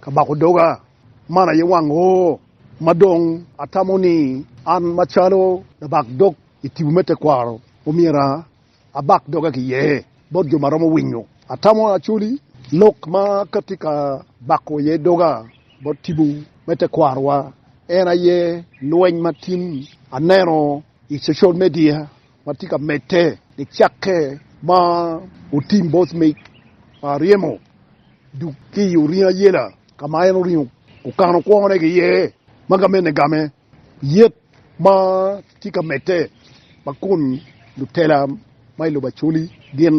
Ka bako doga, man aye wang o ma dong atamo ni an macalo labak dog i tipo me tekwaro omyero abak doga ki iye bot jo ma romo winyo. Atamo acoli lok ma ka tye ka bako iye doga bot tipo me tekwarowa en aye lweny ma tin aneno i cocal media. ma tye ka medde nicakke ma otim bot mic pa aryemo duk ki i oringo ayela ka ma en oringo okano kwone ki iye ma gamene game yet ma tye ka medde ma kun lutela ma i lobo Acholi gin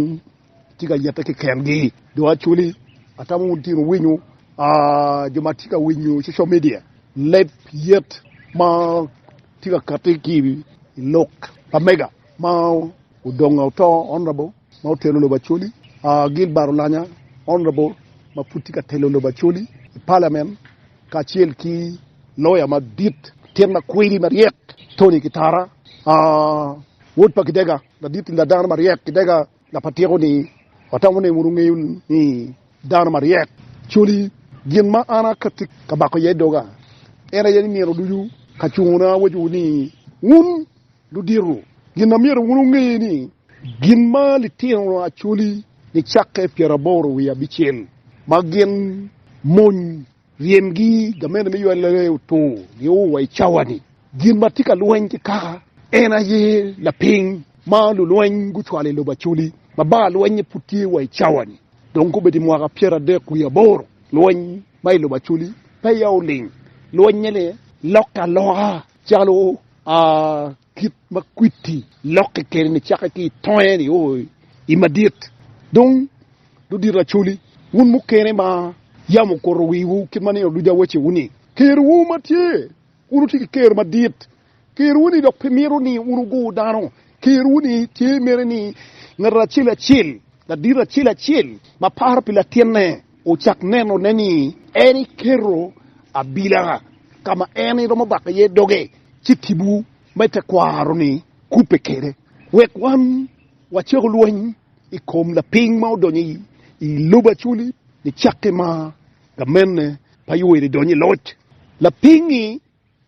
tye ka yette kekengi dong actually atamo wun tye wuwinyo jo ma tye ka winyo social media leb yet ma tye ka kati ki i lok pa mega ma odongo oto honorable ma otelo lobo actually Gilbert Olanya honorable ma pud tye ka telo lobo actually i parliament kacel ki lawyer madit atit ma kwidi maryek Tony Kitara wod pa Gidega. Ladit ni ladano maryek kidega na pa tyeko ni watamo ni wunu ngeyo ni dano maryek coli gin ma an akatti ka bako iye doga en aye ni nino ducu ka cungo na awacowu ni wun ludito gin na myero wunu nge ni gin ma litino acoli ni cakke pyeraboro wiye abicel ma gin mony Ryemgi, gamente me ywal laree otungo nio wa i cawa-ni. Gin ma tye ka lweny ki kaka en aye lapiny ma lulweny gucwalo i lobo Acoli ma bar lwenye pud tye wa i cawa-ni. Dong kobedo i mwaka pyeradek wiye aboro, lweny ma i lobo Acoli peya oling. Lwenye-ni lokke aloka calo a. Kit ma kwiti lokke kede ni cake ki i tonge ni oo i madit dong dudito acoli, wun mukene ma yam okuto wiwu kit ma nino ducu awacewu ni, Kerwu ma tye, wun wutye ki ker madit, kerwu ni dok pe mito ni wun wugur dano, kerwu ni tye mere ni ngat acel acel, ladit acel acel ma paro pi latinne ocak nenone ni en iketo abila ka ma en romo bako iye doge. ci tipo me tekwaro-ni kubbe kwede wek wan wacako lweny i kom lapiny ma odonyo i lobo acoli nicakke ma gamente pa Yoweri donyo i loc. Lapiny-ngi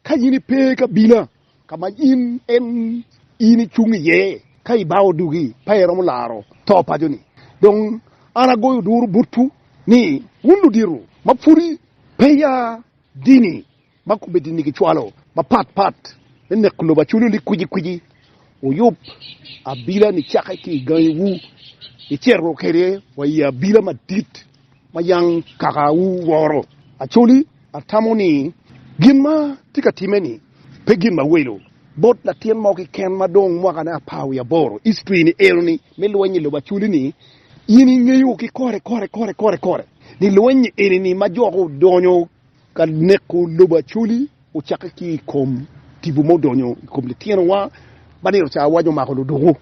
ka in ipe i kabila ka ma in in icung iye, ka ibao odugi pe iromo laro to paco-ni. Dong an agoyo duru botwu ni wun ludito ma pwodi peya dini, ma komiti-ni gicwalo mapat pat me neko lobo aculu ni kwici kwici wuyub abila-ni cakke ki i gangiwu, icito kwede wa i abila madit ma yam kakawu woro. Actually, atamo ni gin ma tye ka timme-ni pe gin mawelo bot latin mo keken ma dong mwakane apar wiye aboro. History-ni eno-ni me lweny i lobo aculu-ni, in ingeyo ki kore kore kore kore kore ni lweny-nyi eni-ni ma jo gudonyo Ka neko lobo Acholi ocakke ki i kom tipo ma odonyo i kom litinowa ma nino ca awaco omako luduku,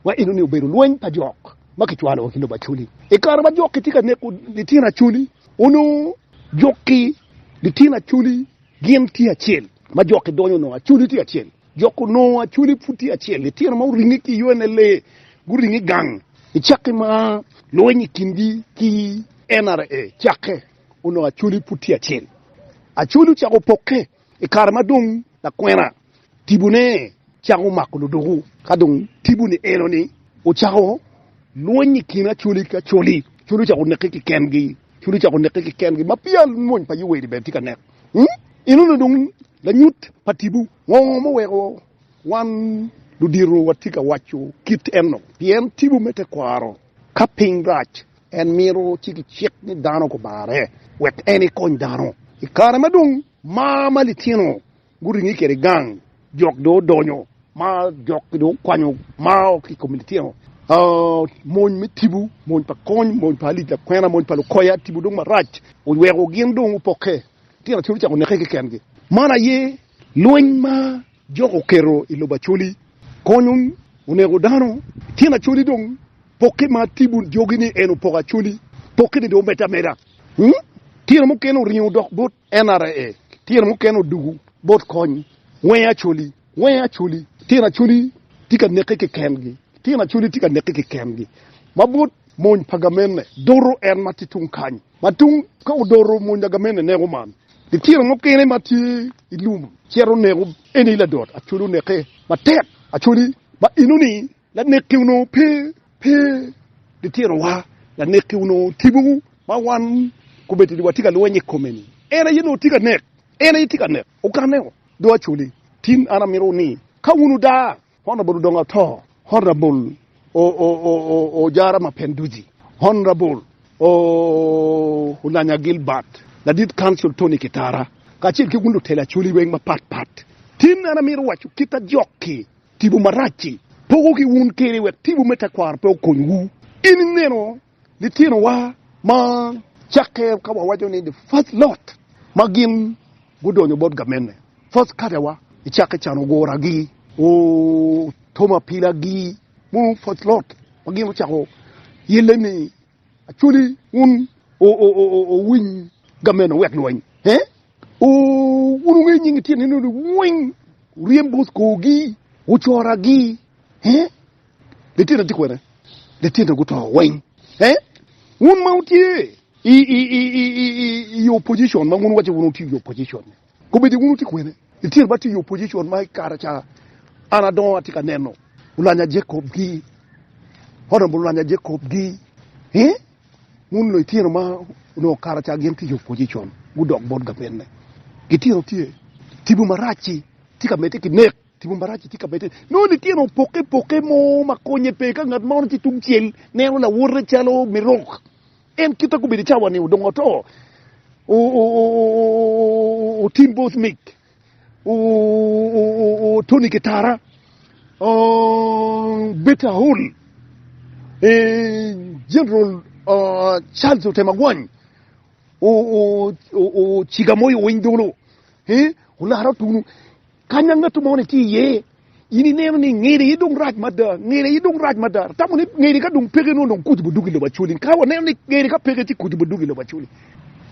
ma enoni obedo lweny pa jok ma kicwalo ki lobo Acholi. I kare ma jok-ki tye ka neko litino Acholi, onongo jok ki litino Acholi gin tye acel, ma jok-ki donyo onongo Acholi tye acel. Jok onongo Acholi pud tye acel, litino ma oringe ki i UNLA guringe gang i cakke ma lweny i kingi ki NRA cakke. onongo Acholi pud tye acel. Acholi ocako pokke i kare ma dong lakwena tibone cako mako ludoko. Ka dong tibone eno-ni ocako lwony i kin Acholi ki Acholi, Acholi ocako neke kikengi, Acholi ocako neke kikengi ma peya lwony pa Yoweli bene tye ka nek. Eno-ni dong lanyut pa tipo ngo ma oweko wan ludito watye ka waco kit eno? Pien tipo me tekwaro ka piny rac En mito ci kicik ni dano gumare wek en ekony dano. I kare ma dong mar ma litino guringe kwede i gang, jok dong odonyo ma jok-ki dong gukwanyo mar ki i kom litino. Mony me tipo, mony pa kony, mony pa alic lakwena, mony pa lukoya, tipo dong marac oweko gin dong opokke, litino aye ocako neke keken-gi. Man aye lweny ma Jok oketo i lobo Acholi konyo onego dano tyen Acholi dong pokke ma tibun jogi ni en opoko Acholi pokke ni dong omedde ameda tyen mukene oringo dok bot NRA tyen mukene odugu bot kony wenge Acholi wenge Acholi tyen Acholi tye ka neke keken gi tyen Acholi tye ka neke keken gi ma bot mony pa gamente doto en ma tye tung kany. Ma tung ka odoro mony lagamene neko man, litino mukene ma tye i lum cito neko eni ladot acoli oneke matek acoli ma enoni lanekki onongo pe pe litinowa lanekki onongo tipo ma wan komedo ni watye ka lweny i kome ni en aye onongo tye ka nek en aye tye ka nek okaneo do acoli tin an amito ni ka wun odaa Honorable dong ato. Honorable Ojara Mapenduzi, Honorable Oulanya Gilbert, Ladit Council Tony Kitara, kacel ki wun lutelo Acholi weng mapat pat, tin an amito waco kit ma jok-ki tipo marac-ci poko ki wun kede wek tipo me tekwaro pe okonywu. In ineno Litinowa ma cakke ka wawaco ni the first lot ma gin gudonyo bot gamenne, first catewa, i cakke can oguragi, otomo apilagi, mono first lot ma gin ocako yelle ni Acholi wun owiny gamenne wek lweny, wun wungeyo nying litino eno ni weng, wuryem bot korgi, wucoragi. Lityenna tye kwene? Lityenna guto weng? Ee. Wun ma wutye i opposition ma wun iwacce wun wutye i opposition-ni, kobedi wun wutye kwene? Lityenna ba tye i opposition ma i kare ca an adongo atye ka neno Olanya Jacob-gi, Honourable Olanya Jacob-gi. Ee, wun lityenna ma onongo i kare ca gin tye i opposition, gudok bot gavenne. Lityenna tye. Tipo marac-ci tye ka medde ki nek. Tipo Marac tye ka bed-de nongo litino opokke pokke mo ma konye pe. Ka ngat ma ono tye tungcel neno lawote calo me rok, en kite gubedo i cawa-ni odong oto. Tim Bothnick, Tony Kitara, Beta Hall, General Charles Otemagwany, Ciga Moyo Winy Dolo, Olara Otunu, Kanya ngat mo ni tye iye, in ineno ni ngede aye dong rac mada, ngede aye dong rac mada. Atamo ni ngede ka dong peke nongo dong kuc bo duk i lobo Acholi. Ka waneno ni ngede ka peke ci kuc bo duk i lobo Acholi.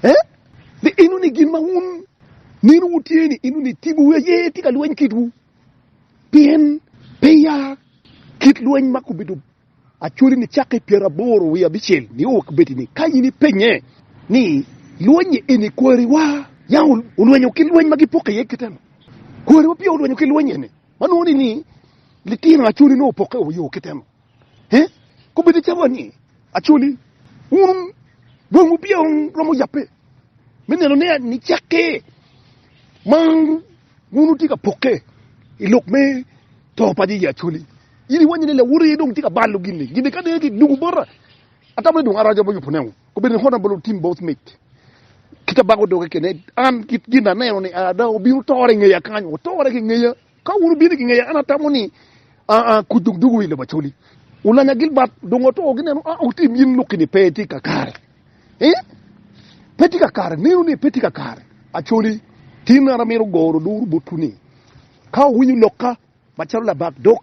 Eh? Ni eno ni gin ma wun nino wutye ni eno ni tibu wi aye tye ka lweny kitwu. Pien peya kit lweny ma kubedo Actually ni cakke i pyera aboro wiye abicel nio wa kibedi ni ka in ipenye ni lwenyi eni kwari wa ya olwenyo ki lweny ma gi poke iye kite no? Kwari wa peya olwenyo ki lweny eni ma nongo ni ni litino actually nongo opoke o yo kite no? He? Kobedi calo ni actually wun dong wu peya wu romo yape. me neno ni nicakke ma wun wutye ka pokke i lok me to pa Yecu Acholi. In iwanyo ni lawoti aye dong tye ka balo gini. Gini ka dong kidungo bota, atamo ni dong araco bocco punewu. Obedo ni kona bolo tim both mic. Kita bako doge kene, an kit gin aneno ni ada obino tore ngeya kany, otore ki ngeya. Ka wun ubino ki ngeya, an atamo ni kuc dong dugo i lobo Acholi. Ulanya Gilbert dong oto gineno, a otim in lok kini pe tye kakare. Ee, pe tye kakare. Meno ni pe tye kakare. Acholi, tin an amito goro luru botwu ni, ka wuwinyo lokka macalo labak dok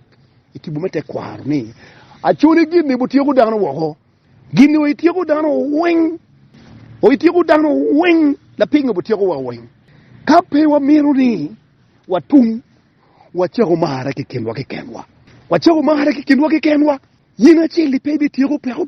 i tipo me tekwaro ni, Acholi gin ni butyeko dano woko, gin ni oityeko dano weng, oityeko dano weng, lapingo butyeko wa weng? Ka pe wamito ni watum, wacako marre ki kinwa kikenwa, wacako marre ki kinwa kikenwa, yen acel-li pe ibityeko peko.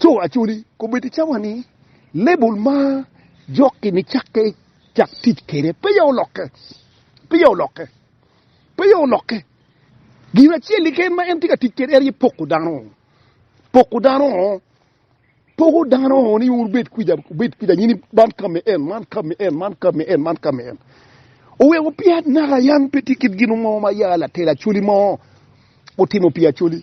Co Acholi kobbe ticca wa ni label ma jokki ni cakke cak tic kwede peya olokke, peya olokke, peya olokke. Gin acel keken ma en tye ka tic kwede en aye poko dano, poko dano, poko dano ni wun wubed kwica, wubed kwica nyini man kame en, man kame en, man kame en, man kame en. Oweko peya naka yan pe tye kit gin mo ma ya latel Acholi mo otimo pi Acholi.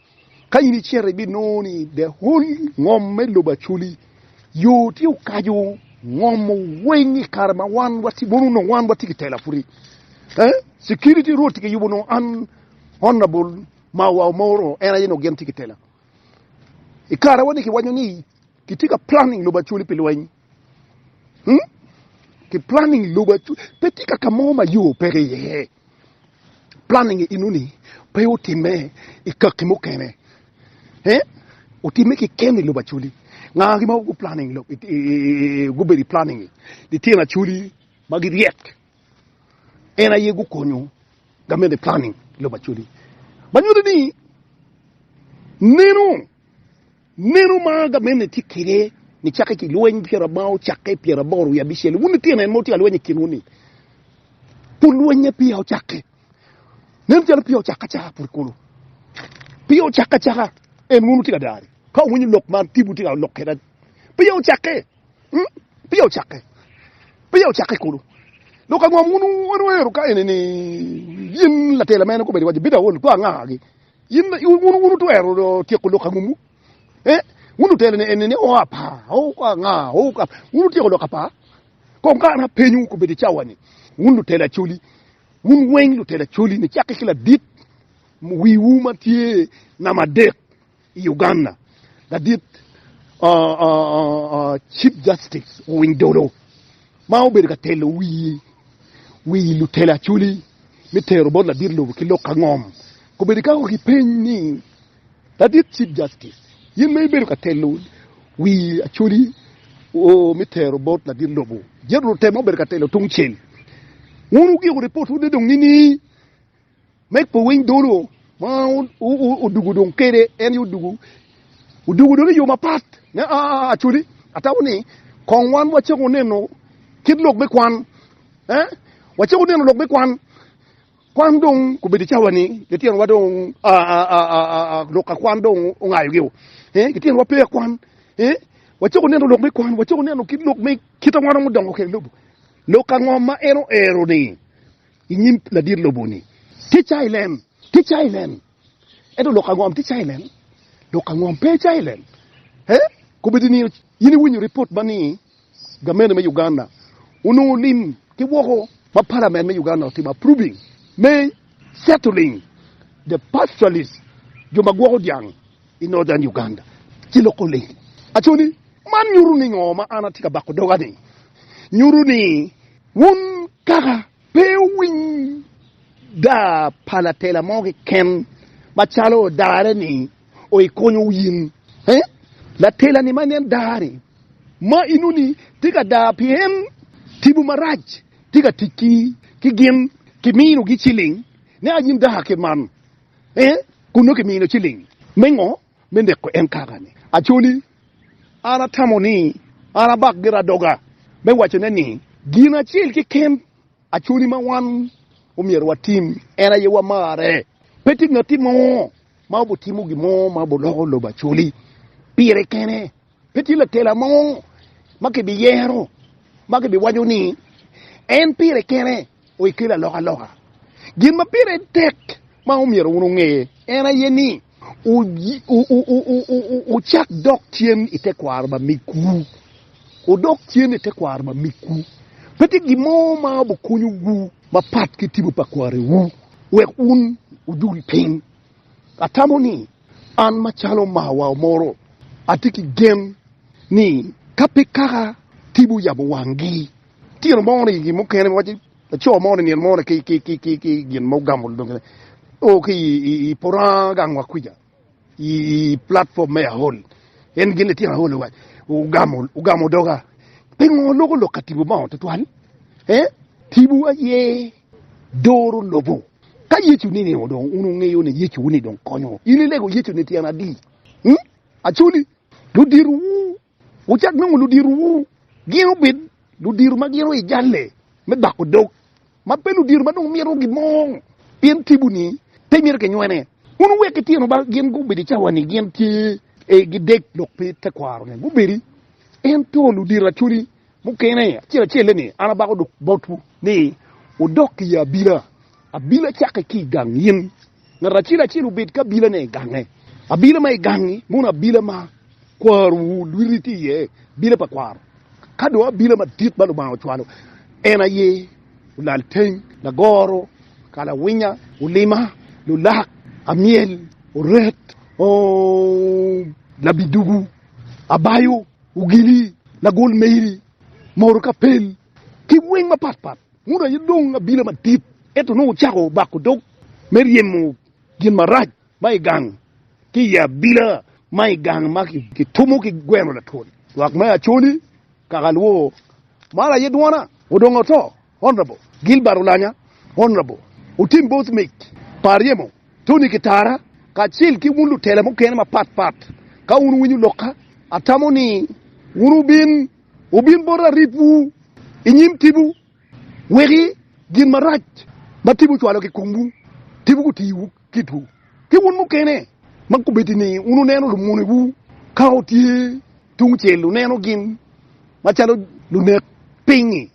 Ka in icito ibinongo ni the whole ngom me lobo Acholi yo tye okaco ngom weng i kare ma wan watye mono onongo wan watye ki tela pwod eh security road tye ki yubo onongo an honorable Mawa Omoro en aye onongo gin tye ki tela i kare wa ni kiwaco ni kitye ka planning lobo Acholi pi lweny Hmm? Ki planning lobo acuc, pe tye kaka mo ma yo peke iye. Planning inuni pe otimme i kakki mukene. Eh? Otimme ki ken i lobo aculi. Ngagi ma gu planning lobo, gubedo i planning, litino aculi ma giryek, en aye gukonyo gamente planning lobo aculi. Ma nyuto ni, nenu, Meno ma gamente tye kwede nicakke ki lweny pyera ma ocakke pyera aboro wiye abicel-li, wun litino en ma wutye ka lweny i kinwu-ni, pud lwennye peya ocakke. Nen calo peya ocakke acaka pud kulu. Peya ocakke acaka, en wun wutye ka dare. Ka wuwinyo lok ma tibu tye ka lok kwede, peya ocakke, peya ocakke, peya ocakke kulu. Dok ango ma wun wunwero ka enini? Yin latela mene kobedi waco, Bino aolo kor angagi? In bene wun wutwero tyeko lok angomwu? Eh, wun lutelo ni eni ni, o apa, o anga, o ka. Wun wutyeko lok apa? Kong ka an apenyu kobedi i cawa ni, wun lutelo acoli, wun weng lutelo acoli ni cakke ki ladit wiwu ma tye namba adek i Uganda, ladit Chief Justice Owiny Dollo, ma obedo ka telo wi lutelo acholi me tero bot ladit lobo ki lok ka ngom, kobedo ikako ki peny ni, Ladit Chief Justice, in ma ibedo ka telo wi acholi me tero bot ladit lobo, jito lutemo ma obedo ka telo tungcel, wun wugiko ripotwu ni dong nining? Meg pe winy dolo ma odugu dong kede en yo odugu odugu dong iyo mapat ne acoli atabo ni kong wan wacako neno kit lok me kwan eh wacako neno lok me kwan kwan dong kubedo icawa ni litino wa dong lok akwan dong ongayo gi o eh litino wa pe akwan eh wacako neno lok me kwan wacako neno kit lok me kit awan omudongo kede lobo lok angom ma en oero ni i nyim ladit lobo ni, Tye cayi len, tye cayi len. Ento lok angom tye cayi len? Lok angom pe cayi len? He, kobedo ni in iwinyo ripot ma ni gamente me Uganda onongo lim ki woko ma palament me Uganda otimo approving me settling the pastoralist, jo ma gwoko dyang i Northern Uganda, ci loko lim. Aco ni, man nyuto ni ngo ma an atye ka bako doga ni? Nyuto ni. Wun kaka pe wuwiny daa pa latela mo keken macalo odare ni o i konyo wu in? Ee, latela ni ma nen daa ni ma inu ni tye ka daa pien timwu marac tye ka tic ki ki gin ki mino gi ciling ne a in daa kit man. Ee, kun nongo ki mino ciling me ngo me neko en kaka-ni. Acholi, an atamo ni an abak gira doga me wacone ni, gin acel keken Acholi ma wan omyero watim en aye wamarre. Pe tye ngat mo ma obitimo gin mo ma obiloko lobo Acholi pire kene. Pe tye lakela mo ma kibiyero ma kibiwaco ni en pire kene oye kelo alokaloka. Gin ma pire tek ma omyero wun wunge en aye ni wucak dok cen i tekwaro ma migwu. Wudok cen i tekwaro ma migwu. Pe tye gin mo ma obikonyowu mapat ki tipo pa kwariwu wek wun wudul piny. Atamo ni an macalo omarwa omoro atye ki gen ni ka pe kaka TV oyabo wanggi tino mo ni gin mukene ma waco laco mo ni nino mo ni ki gin ma ogamo dong o ki i poto gang wa kwica i platform me Ahol en gin litino Ahol owaco ogamo ogamo doga pingo loko lok ka TV obongo tutwal eh TV aye doro lobo. Ka Yecu ni nino dong un wungeyo ni Yecu ni dong konyo in ilego Yecu ni tyen adi? Ung? Actually, ludiro wu wucak nongo ludiro wu gin obed ludiro ma gin o i jalle me bako dog ma pe ludiro ma dong mito gin mo pien tibu ni pe mito ki nywene. Un wuwek ki tino ba gin gubed i cawa ni gin tye e gi dek dok pe tekwaro ni gubedi ento ludiro actually. Mukene acel acel-le ni, An abako dok botwu ni wudok i abila. Abila cakke ki i gang in. Ngat acel acel obed ki abilane i gange. Abila ma i gangi mono abila ma kwarowu lwiti tye iye, abila pa kwaro. Ka dong abila madit ma Lubanga ocwalo en aye olalteng, lagoro, kalawinya, olima, lulak, amyel, oret, labidugu, abayo. Ogili, lagol meri, moro ka pel, ki weng mapat pat. Muda aye dong abila madit, ento nongo ocako bako dog me ryemo gin marac ma i gang ki i abila ma i gang ma kitumo ki gweno latwon. Lwak me Acholi, Kakalwo, maro aye dwona, odongo oto. Honorable Gilbert Olanya, Honorable Otim Both Mic pa Aryemo, Tony Kitara kacel ki wun lutela mukene mapat pat ka wun wuwinyo lokka atamo ni wun wubin wubin bota aripwu i nyim tipo weki gin marac ma tipo ocwalo ki komwu tipo gutiwu kitwu ki wun mukene ma kubeddi ni wun wuneno lumonewu ka wutye tungcel wuneno gin macalo lunek piny-ngi.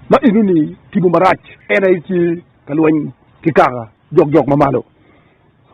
ma enoni timo marac, en aye tye ka lweny ki kaka jokjok ma malo.